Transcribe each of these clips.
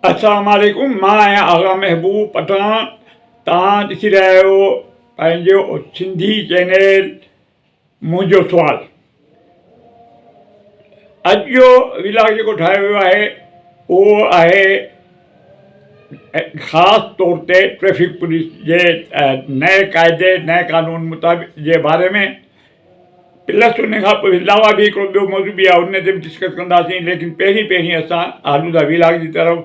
السلام عليڪم مان آهيان آغا محبوب پٺاڻ توهان ڏسي رهيا آهيو پنهنجو سنڌي چينل منهنجو سوال اڄ جو ولاگ جيڪو ٺاهيو ويو آهي اهو آهي خاص طور تي ٽريفڪ پوليس جي نئين قاعدي نئين قانون مطابق جي باري ۾ پلس ان کان پوء علاوه به هڪڙو ٻيو موضوع به آهي ان تي به ڊسڪس ڪنداسين ليڪن پهرين پهرين اسان هلون ٿا وي لاگ جي طرف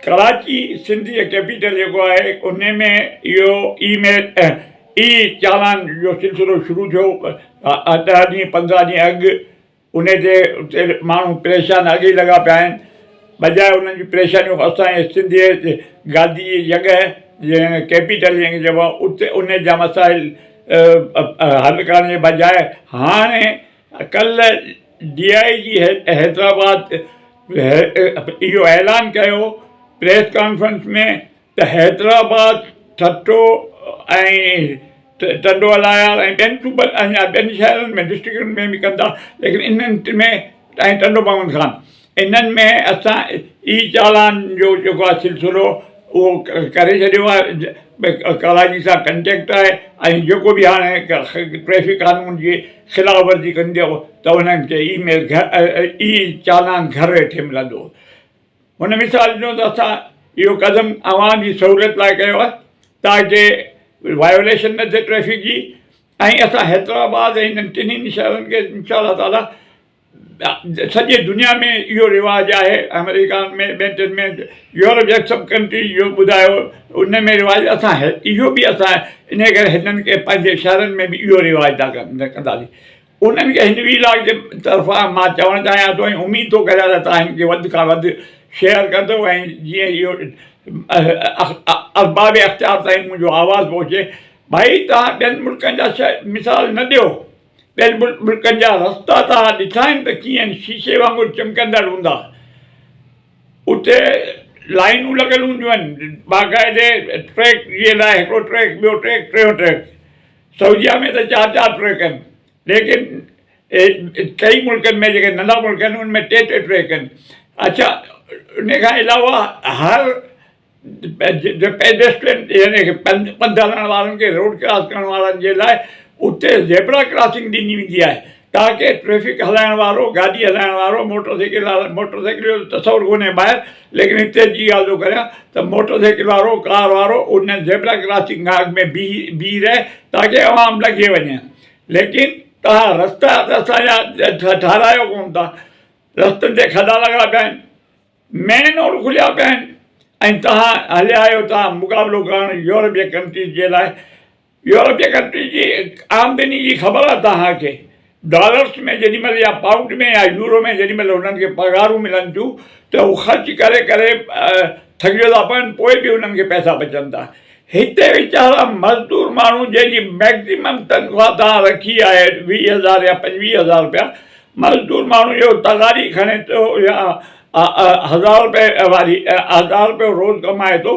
ڪراچي سنڌ جي ڪيپيٽل جيڪو آهي ان ۾ اهو اي ميل اي چالان جو سلسلو شروع ٿيو ڏهه ڏينهن پندرهن ڏينهن اڳ انهي تي اتي ماڻهو پريشان اڳ ئي لڳا پيا آهن. بجاء انهن جي پريشانيون اسان جي سنڌيء جي گاديء جي جڳهه جنهن کي ڪيپيٽل جنهن کي چئبو آهي اتي انهي جا مسائل حل ڪرڻ جي بجاء هاڻي ڪلهه ڊي آء جي حيدرآباد اهو اعلان ڪيو پريس ڪانفرنس ۾ ته حيدرآباد، ٺٽو ۽ ٽنڊو الايار ۽ ٻين صوبن ۽ ٻين شهرن ۾ ڊسٽرڪٽن ۾ به ڪندا ليڪن انهن ٽنهي ۽ ٽنڊو بامن خان انهن ۾ اسان ئي چالان جو جيڪو آهي سلسلو اهو ڪري ڇڏيو آهي ڪراچي سان ڪنٽيڪٽ آهي ۽ جيڪو به هاڻي ٽريفڪ قانون جي خلاف ورزي ڪندو ته انهن کي اي ميل اي چالان گهر ويٺي ملندو هن مثال ڏنو ته اسان اهو قدم اوهان جي سهوليت لاء ڪيو آهي تاڪه وائيوليشن نه ٿئي ٽريفڪ جي ۽ اسان حيدرآباد ۽ هنن ٽنهي شهرن کي انشاء الله تعالي سڄي دنيا ۾ اهو رواج آهي آمريڪا ۾ ٻين ٽين ۾ يورپ جا سڀ ڪنٽري اهو ٻڌايو ان ۾ رواج اسان اهو بي اسان انهي ڪري هنن کي پنهنجي شهرن ۾ به اهو رواج ڪندا سي انهن کي هن ويلاگ جي طرفان مان چوڻ چاهيان ٿو ۽ اميد ٿو ڪريان ته توهان هن کي وڌ کان وڌ شيئر ڪندو ۽ جيئن اهو ارباب اختيار تائين منهنجو آواز پهچي. ڀائي توهان ٻين ملڪن جا مثال نه ڏيو. ٻين ملڪن جا رستا توهان ڏٺا آهن ته ڪيئن آهن شيشي وانگر چمڪندڙ هوندا. اتي لائينون لڳل هونديون آهن باقاعدي ٽريڪ جي لاء هڪڙو ٽريڪ ٻيو ٽريڪ ٽيون ٽريڪ سعوديه ۾ ته چار چار ٽريڪ آهن ليڪن ٽئي ملڪن ۾ جيڪي ننڍا ملڪ آهن ان ۾ ٽي ٽي ٽريڪ آهن اڇا ان کان علاوه هر پيڊسٽرين يعني ڪي پنڌ هلڻ وارن کي روڊ ڪراس ڪرڻ وارن جي لاء اتي زيبرا ڪراسنگ ڏني ويندي آهي ڪاڪي ٽريفڪ هلائڻ وارو، گاڏي هلائڻ وارو، موٽر سائيڪل وارو، موٽر سائيڪل جو ته تصور ڪونهي ٻاهر ليڪن هتي جي ڳالهه ٿو ڪريان ته موٽر سائيڪل وارو، ڪار وارو ان زيبرا ڪراسنگ کان اڳ ۾ بيهي رهي تاڪي عوام لنگهي وڃي ليڪن توهان رستا ته اسان جا ٺهرايو ڪونه ٿا رستن تي کڏا لڳا پيا آهن مين روڊ کليا پيا آهن ۽ توهان هليا آهيو توهان مقابلو ڪرڻ يورپين ڪنٽريز جي لاء يورپ جي ڪنٽريز جي آمدني جي خبر آهي توهان کي ڊالرس ۾ جيڏي مهل يا پائونڊ ۾ يا يورو ۾ جيڏي مهل هنن کي پگهارون ملن ٿيون ته هو خرچ ڪري ڪري ٿڪجي ٿا پون پوء به هنن کي پئسا بچن ٿا هتي ويچارا مزدور ماڻهو جنهن جي مئڪزيمم تنخواه توهان رکي آهي ويهه هزار يا پنجويهه هزار رپيا مزدور ماڻهو اهو تغاري کڻي ٿو يا هزار رپئي واري هزار رپيو روز ڪمائي ٿو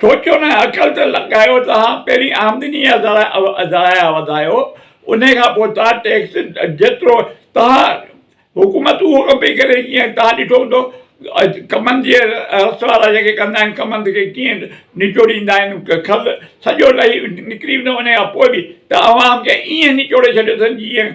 سوچيو نه عقل ته لڳايو توهان پهرين آمدني يا ذرايع وڌايو انهي کان پوء توهان ٽيڪس جيترو توهان حڪومت اهو ڪم پئي ڪري جيئن توهان ڏٺو هوندو ڪمند جي رس وارا جيڪي ڪندا آهن ڪمند کي ڪيئن نچوڙيندا آهن کل سڄو لهي نڪري ويندو انهي کان پوء به ته عوام کي ايئن نچوڙي ڇڏيو اٿن جيئن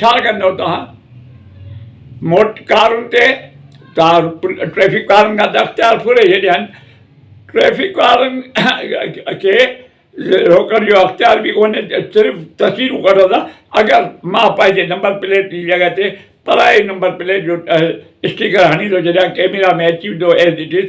ڇا ڪندؤ توهان موٽر ڪارن تي توهان ٽريفڪ وارن کان ته اختيار ڦري ڇڏيا آهن ٽريفڪ وارن کي روڪڻ جو اختيار به ڪونهي صرف تصويرون ڪڍندا اگر مان پنهنجي نمبر پليٽ جي جڳهه تي پرائي نمبر پليٽ جو اسٽيڪر هڻي ٿو ڇڏيان ڪيميرا ۾ اچي ويندو ايز اٽ از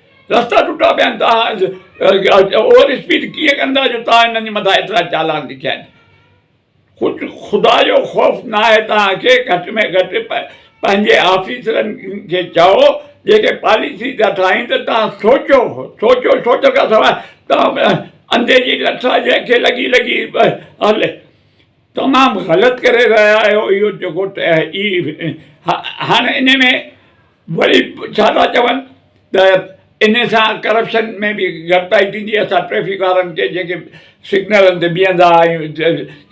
رستا ٽٽا پيا آهن توهان اوور اسپيڊ ڪيئن ڪندا جو توهان هنن جي مٿان ايترا چالان لکيا آهن ڪجهه خدا جو خوف ناهي توهان کي گهٽ ۾ گهٽ پنهنجي آفيسرن کي چئو جيڪي پاليسي ٿا ٺاهين ته توهان سوچو سوچو سوچ کان سواء توهان انڌي جي لٺ جنهن کي لڳي لڳي هلي تمام غلط ڪري رهيا آهيو اهو جيڪو اي هاڻ ان ۾ وري ڇا ٿا چون ته ان سان ڪرپشن ۾ به گهٽتائي ٿيندي اسان ٽريفڪ وارن کي جيڪي سگنلن تي بيهندا آهيون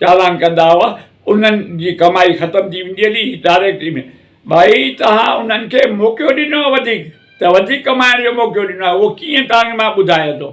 چالان ڪندا هئا انهن جي ڪمائي ختم ٿي ويندي هلي ڊائريڪٽ ان ڀائي توهان انهن کي موقعو ڏنو وڌيڪ ته وڌيڪ ڪمائڻ جو موقعو ڏنو اهو ڪيئن تانکي مان ٻڌايان ٿو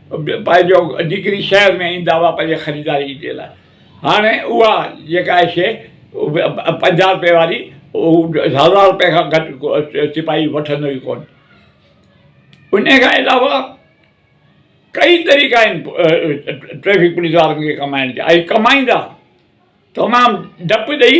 پائي جو جيڪري شهر ۾ ايندا هئا پنهنجي خريداري جي لاء هاڻي اها جيڪا آهي شيء پنجاهه روپئي واري هزار روپئي کان گهٽ ڪو سپاهي وٺندو ئي ڪونه انهي کان علاوه ڪئي طريقا آهن ٽريفڪ پوليس وارن کي ڪمائڻ جا ۽ ڪمائيندا تمام ڊپ ڏئي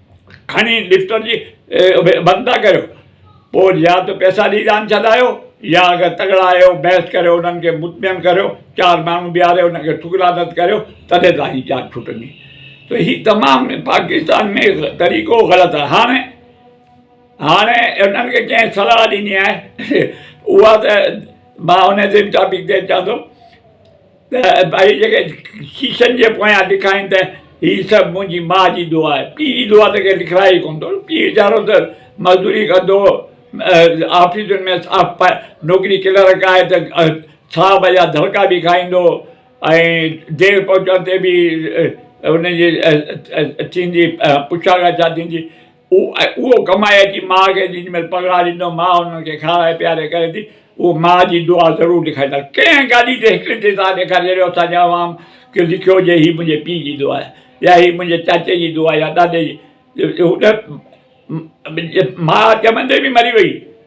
کڻي لفٽن جي بند ٿا ڪريو پوء يا ته پئسا ڏئي جان ڇڏايو يا اگر تڳڙا آهيو بحث ڪريو انهن کي مطمئن ڪريو چار ماڻهو بيهاري انهن کي ٺڪرا رد ڪريو تڏهن ته هي جاچ ڇٽندي ته هي تمام پاڪستان ۾ طريقو غلط آهي هاڻي هاڻي انهن کي ڪنهن صلاح ڏني آهي اها ته مان ان جي ٽاپڪ تي چوان ٿو ته ڀائي جيڪي شيشن جي پويان لکائين ته هي سڀ منهنجي ماء جي دعا آهي، پيء جي دعا ته ڪير لکرائي ئي ڪونه ٿو، پيء ويچارو ته مزدوري ڪندو هو، آفيسن ۾ صاف نوڪري ڪلرڪ آهي ته صاحب جا دڙڪا به کائيندو هو ۽ دير پهچڻ تي به ان جي ٿيندي پڇا ڳاڇا ٿيندي اهو ڪمائي اچي ماء کي ڏي، جنهن مهل پگهار ايندو، ماء انهن کي کارائي پياري ڪري ٿي، اهو ماء جي دعا ضرور لکائيندا. ڪنهن گاڏي تي هڪڙي تي ٿا ڏيکارين، اهڙو اسان جي عوام کي لکيو هجي، هي منهنجي پيء جي دعا آهي يا هي منهنجي چاچي جي دعا يا ڏاڏي جي. ماء ڄمندي به مري وئي.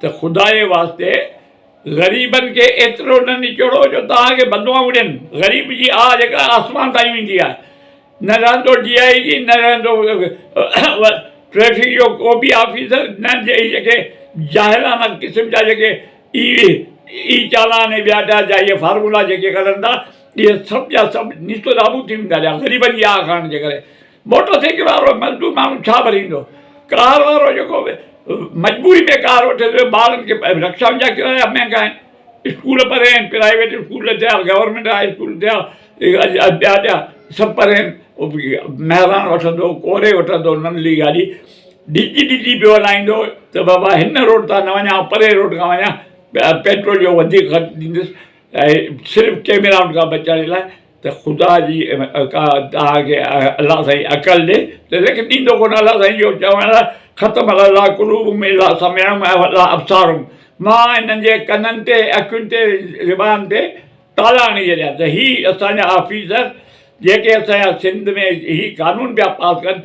ته خدا جي واسطي غريبن کي ايترو نه نچوڙو جو توهان کي بددعائون ڏين. غريب جي آھ جيڪا آسمان تائين ويندي آھي. نه رهندو ڊي آء جي نه رهندو ٽريفڪ جو ڪو به آفيسر نه اھي جيڪي جاهلانه قسم جا جيڪي اي اي چالان ۽ ٻيا ٽيا جا اھي فارمولا جيڪي ڪڍن ٿا اھي سڀ جا سڀ نيست و نابود ٿي ويندا جا غريبن جي آھ ڪرڻ جي ڪري. موٽر سائيڪل وارو مزدور ماڻهو ڇا ڀريندو؟ ڪار وارو جيڪو مجبوري ۾ ڪار وٺي ٿو، ٻارن کي رڪشائن جا ڪرايا مهنگا آهن، اسڪول پري آهن، پرائيويٽ اسڪول نه ٿيا، گورنمينٽ هاء اسڪول نه ٿيا، ٻيا ٻيا سڀ پري آهن، مهراڻ وٺندو، ڪوري وٺندو ننڍڙي گاڏي، ڊڄي ڊڄي پيو هلائيندو ته بابا هن روڊ تان نه وڃان، آئون پري روڊ کان وڃان، پيٽرول جو وڌيڪ خرچ ڏيندس، صرف ڪيميرائن کان بچڻ لاء. ته خدا جي ڪا تنهن کي الله سائين عقل ڏي ته ليکي ڏيندو ڪونه الله سائين جو چوڻ آهي ختم الله قلوبهم الا سمعهم والا ابصارهم مان هنن جي ڪنن تي اکين تي زبان تي تالا هڻي ڇڏيا ته هي اسان جا آفيسر جيڪي اسان جا سنڌ ۾ هي قانون پيا پاس ڪن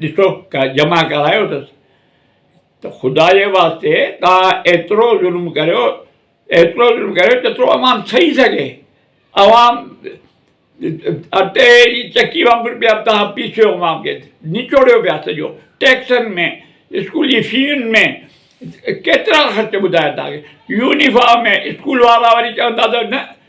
ڏسو جمع ڪرايو اٿس ته خدا جي واسطي توهان ايترو ظلم ڪريو ايترو ظلم ڪريو جيترو عوام سهي سگهي عوام اٽي جي چڪي وانگر پيا توهان پيسيو عوام کي نچوڙيو پيا سڄو ٽيڪسن ۾ اسڪول جي فين ۾ ڪيترا خرچ ٻڌايا توهان کي يونيفارم ۾ اسڪول وارا وري چوندا ته نه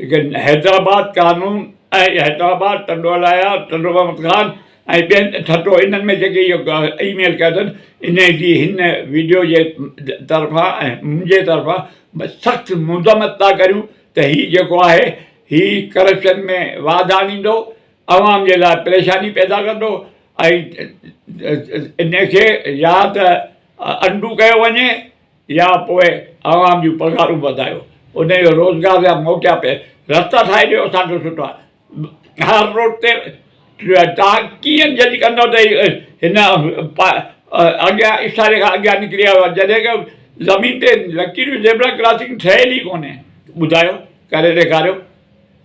حيدرآباد قانون ۽ حيدرآباد ٽنڊو الايا ٽنڊو محمد خان ۽ ٻين ٺٽو انهن ۾ جيڪي اهو اي ميل ڪيو اٿن انهي جي هن وڊيو جي طرفان ۽ منهنجي طرفان سخت مذمت ٿا ڪريون ته هي جيڪو آهي هي ڪرپشن ۾ واڌ آڻيندو عوام جي لاء پريشاني پيدا ڪندو ۽ انهي کي يا ته انڊو ڪيو وڃي يا پوء عوام جون پگهارون وڌايو انهن جو روزگار جا موقعا پي رستا ٺاهي ڏيو اسان جو سٺو آهي هر روڊ تي تان ڪيئن جج ڪندو ته هن اڳيان اشاري کان اڳيان نڪري آيو آهي جڏهن ڪو زمين تي لڪيريون زيبرا ڪراسنگ ٺهيل ئي ڪونهي ٻڌايو ڪري ڏيکاريو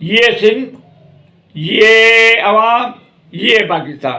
يي سنڌ يي عوام يي پاڪستان.